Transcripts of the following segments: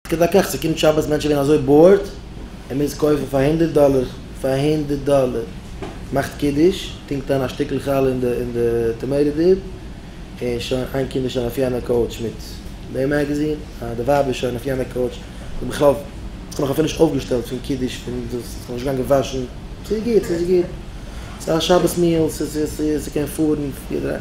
כדרכך ס'קומט שבת מענטשן ווערן אזוי באורד ער מוז קויפן פאר הונדערט דאלער פאר הונדערט דאלער מאכט קידוש טונקט אריין א שטיקל חלה אין די אין די טאמעיטא דיפ און שוין איין קינד איז שוין אויף יענע קאוטש מיט די מעגעזין אה די ווייב איז שוין אויף יענע קאוטש די בחור האט נאך אפילו נישט אויפגעשטעלט פון קידוש פון דאס איז נאך נישט געגאנגען וואשן ס'איז גוט ס'איז גוט ס'איז א שבת מיעל ס'איז ס'קען פארן יעדער איינ.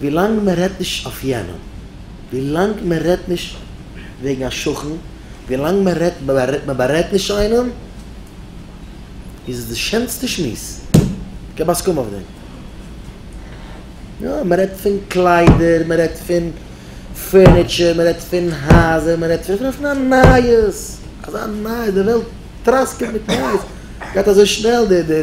ווילאנג מען רעדט נישט אויף יענעם, ווילאנג מען רעדט נישט וועגן א שכן, ווילאנג מען רעדט, מען בארעדט נישט איינעם, איז עס די שענסטע שמועס. כהאב הסכמה אויף דעם. יא, מען רעדט פון קליידער, מען רעדט פון פערניטשער, מען רעדט פון הייזער, מען רעדט פון אפילו פון א נייעס, אזא נייעס, די וועלט טראסקעט מיט נייעס, גייט אזוי שנעל די.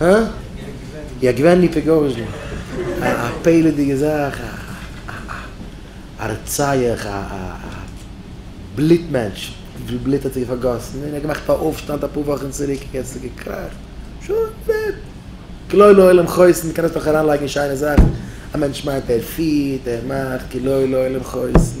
הא? יא געווען היפעגארישן, א פעלעדיגע זאך, א רוצח, א בלוט מענטש, וויפיל בלוט האט ער פארגאסן, און ער האט געמאכט א אויפשטאנד אפאר וואכן צוריק, יעצט איז געקראכט, שוין דעד, כלא לעולם חוסן, קען עס נאך אריינלייגן אין שיינע זאכן, א מענטש מיינט ער פירט, ער מאכט, כלא לעולם חוסן.